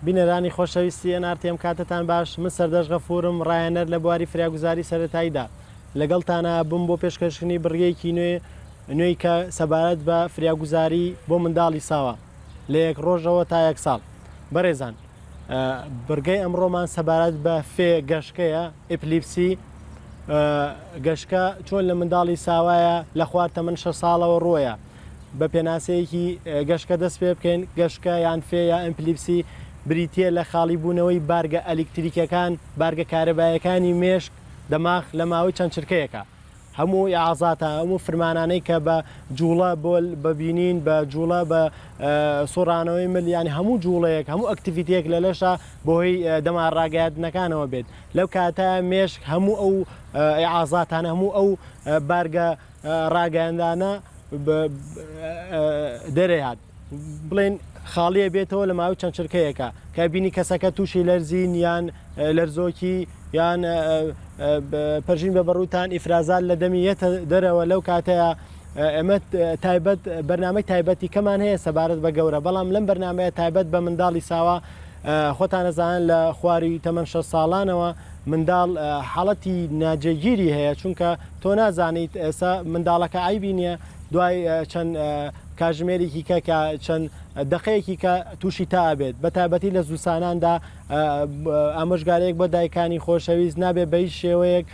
بینەرانی خۆشەویستی ئێن ئار تی ئێم کاتتان باش من سەردەشت غەفورم ڕایەنەر لە بواری فریاگوزاری سەرەتاییدا لەگەڵتانە بووم بۆ پێشکەشکردنی بڕگەیەکی نوێ نوێی کە سەبارەت بە فریاگوزاری بۆ منداڵی ساوا لە یەک ڕۆژەوە تا یەک ساڵ بەڕێزان بڕگەی ئەمڕۆمان سەبارەت بە فێ گەشکەیە ئیپلیپسی گەشکە چۆن لە منداڵی ساوایە لە خوار تەمەن شە ساڵەوە ڕۆیە بە پێناسەیەکی گەشکە دەست پێ بکەین گەشکە یان فێ یا ئەمپلیپسی بریتیە لە خاڵی بوونەوەی بارگە ئەلیکتریکەکان بارگە کارەبایەکانی مێشک دەماغ لە ماوەی چەند چرکەیەکە هەموو ئازاتە هەموو فرمانانەی کە بە جوڵە بۆ بەبینین بە جوڵە بە سۆرانەوەی مل ینی هەموو جوڵەیەک هەموو ئەکتیڤیتەیەک لە لەشە بۆهی دەما ڕاگەاندنەکانەوە بێت لەو کاتە مێشک هەموو ئەو ئازاتان هەموو ئەو بارگە ڕاگەیاندانە دەرەیهات بڵێن خاڵیە بێتەوە لە ماوەی چەند چرکەیەکە کە بینی کەسەکە تووشی لەرزین یان لەرزۆکی یان پەرژین بە بەڕوتان ئیفرازات لە دەمی یەتە دەرەوە لەو کاتەیە ئەمە تایبەت بەرنمەی تایبەتی کەمان هەیە سەبارەت بە گەورە بەڵام لەم بەرنمەیە تایبەت بە منداڵی ساوا خۆتان ئەزانن لە خواری تەمەن شەست ساڵانەوە منداڵ حاڵەتی ناجێگیری هەیە چونکە تۆ نازانیت ئێستا منداڵەکە ئایبی نییە دوای چەند کاژمێرێکی کە کە چەند دقەیەکی کە تووشی تا بێت بە تابەتی لە زوساناندا ئامۆژگارێک بۆ دایکانی خۆشەویست نابێ بەی شێوەیەک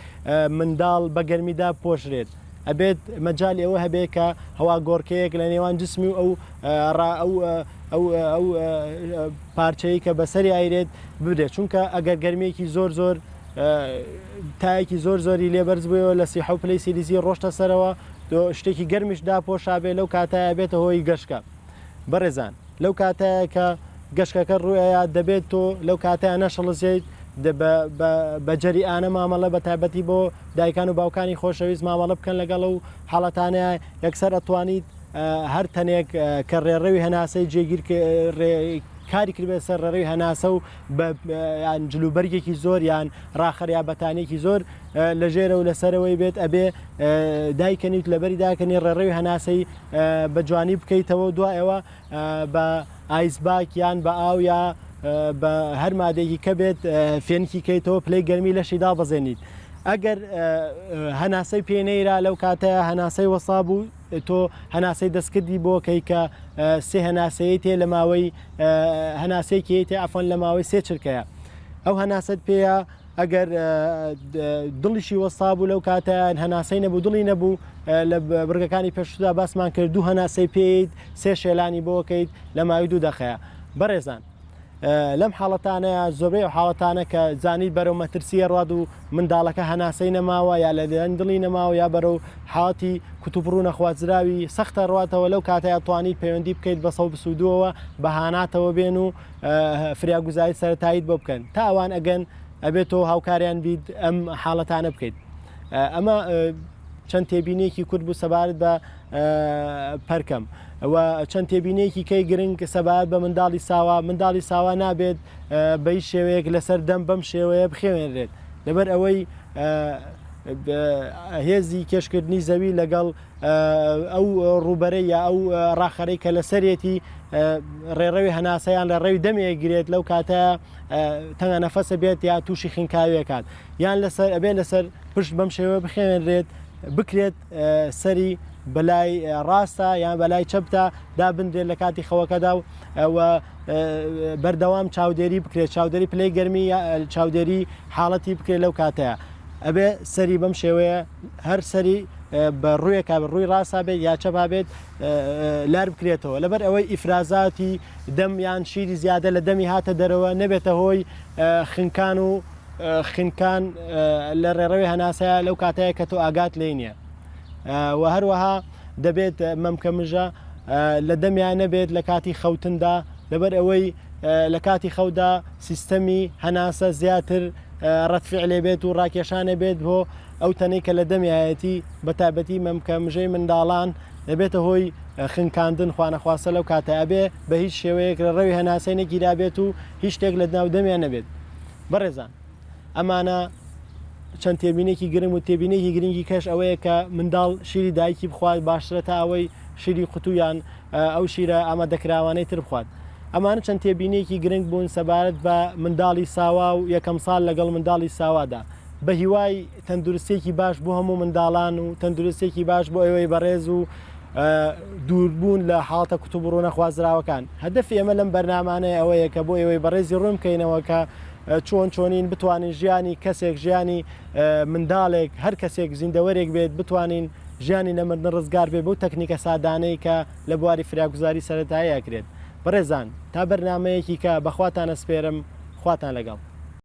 منداڵ بە گەرمیدا پۆشرێت ئەبێت مەجالی ئەوە هەبێت کە هەواگۆڕکێیەک لە نێوان جسمی و ئەو ئەو ئەو پارچەیە کە بەسەری ئایرێت بدرێت چونکە ئەگەر گەرمێکی زۆر زۆر تایەکی زۆر زۆری لێبەرز بووەوە لە سیحە و پلی سیلیزی ڕۆشتە سەرەوە شتێکی گەرمیش داپۆشابێ لەو کاتایە بێتە هۆی گەشکە. بەڕێزان لەو کاتەیە کە گەشکەکە ڕوئەیە دەبێت تۆ لەو کاتەیە نەشڵزیت بەجەریانە مامەڵە بە تایبەتی بۆ دایکان و باوکانی خۆشەویست مامەڵە بکەن لەگەڵ و حاڵەتانەیە یەکسەر ئەتوانیت هەر تەنێک کە ڕێڕەوی هەناسەی جێگیر کاری کردبێت سەر ڕێڕەوی هەناسە و یان جلوبەرگێکی زۆر یان ڕاخەریا بەتانێکی زۆر لە ژێرە و لەسەرەوەی بێت ئەبێ دایکەنیت لەبەری داکەنی ڕێڕەوی هەناسەی بە جوانی بکەیتەوە و دوای ئەوە بە ئایس باک یان بە ئاو یا بە هەر مادێکی کە بێت فێنکی کەیتەوە پلەی گەرمی لەشی دابەزێنیت ئەگەر هەناسەی پێ نەیرا لەو کاتەیە هەناسەی وەسا بوو تۆ هەناسەی دەستکردی بۆ کەی کە سێ هەناسەیە تێ لە ماوەی هەناسەیەکی تێ ئەفۆن لە ماوەی سێ چرکەیە ئەو هەناسەت پێەیە ئەگەر دڵیشی وەستابوو لەو کاتە هەناسەی نەبوو دڵی نەبوو لە بڕگەکانی پێشتدا باسمان کرد دوو هەناسەی پێیت سێ شێلانی بۆکەیت لە ماوی دوو دەخەیە بەڕێزان لەم حاڵەتانەیە زۆربەی و حاڵەتانە کە زانی بەرەو مەترسیە ڕاد و منداڵەکە هەناسەی نەماوە یا لە دێن دڵی نەماوە یا بەرەو حاڵەتی کوتوپڕوو نەخوازراوی سەختە ڕاتەوە لەو کاتەیە توانی پەیوەندی بکەیت بەسەو بسوودەوە بەهاناتەوە بێن و فریاگوزاری سەرەتاییت بۆ بکەن تا ئەوان ئەگەن ئەبێت تۆ هاوکاریان بیت ئەم حاڵەتانە بکەیت ئەمە چەند تێبینێکی کورد بوو سەبارەت بە پەرکەم و چەند تێبینێکی کەی گرنگ سەبارەت بە منداڵی ساوا منداڵی ساوا نابێت بەی شێوەیەک لەسەر دەم بەم شێوەیە بخێنرێت لەبەر ئەوەی هێزی کێشکردنی زەوی لەگەڵ ئەو ڕووبەرەی یا ئەو ڕاخەرەی کە لەسەرێتی ڕێڕەوی هەناسەیان لە ڕێوی دەمێک گرێت لەو کاتە تەنگە نەفەسە بێت یا تووشی خنکاویەکان یان لەسەر ئەبێت لەسەر پشت بەم شێوە بخێنرێت بکرێت سەری بەلای ڕاستە یان بەلای چەپتا دابنرێت لە کاتی خەوەکەدا و بەردەوام چاودێری بکرێت چاودێری پلەی گەرمی چاودێری حاڵەتی بکرێت لەو کاتەیە ئەبێ سەری بەم شێوەیە هەر سەری بە ڕوویەکا بێت ڕووی ڕاستا بێت یا چەپا بێت لار بکرێتەوە لەبەر ئەوەی ئیفرازاتی دەم یان شیری زیادە لە دەمی هاتە دەرەوە نەبێتە هۆی خنکان و خنکان لە ڕێڕەوی هەناسەیە لەو کاتەیە کە تۆ ئاگات لێی نییە و هەروەها دەبێت مەمکە مژە لە دەمیان نەبێت لە کاتی خەوتندا لەبەر ئەوەی لە کاتی خەودا سیستەمی هەناسە زیاتر رەد فعلێ بێت و راکێشانێ بێت بۆ ئەو تەنەی کە لە دەمیایەتی بە تابەتی مەمکە مژەی منداڵان دەبێتە هۆی خنکاندن خوانەخواستە لەو کاتە ئەبێ بە هیچ شێوەیەک لە ڕەوی هەناسەی نەگیرابێت و هیچ شتێک لە دناو دەمیان نەبێت بەڕێزان ئەمانە چەند تێبینێکی گرنگ و تێبینێکی گرنگی کەش ئەوەیە کە منداڵ شیری دایکی بخوات باشترە تا ئەوەی شیری قوتویان ئەو شیرە ئامادەکراوانەی تر بخوات. ئەمانە چەند تێبینییەکی گرنگ بوون سەبارەت بە منداڵی ساوا و یەکەم ساڵ لەگەڵ منداڵی ساوادا. بەهیوای تەندروستییەکی باش بۆ هەموو منداڵان و تەندروستییەکی باش بۆ ئێوەی بەڕێز و دووربوون لە حاڵەتە کوتوپڕو نەخوازراوەکان. هەدەفی ئێمە لەم بەرنامانەیە ئەوەیە کە بۆ ئێوەی بەڕێزی ڕوون بکەینەوە کە چۆن چۆنین بتوانین ژیانی کەسێک، ژیانی. منداڵێک، هەر کەسێک، زیندەوەرێک بێت بتوانین ژیانی لە مردن ڕزگار بێت بەو تەکنیکە سادانەی کە لە بواری فریاگوزاری سەرەتایی ئەکرێت. بەڕێزان تا بەرنامەیەکی کە بەخواتان ئەسپێرم خواتان لەگەڵ.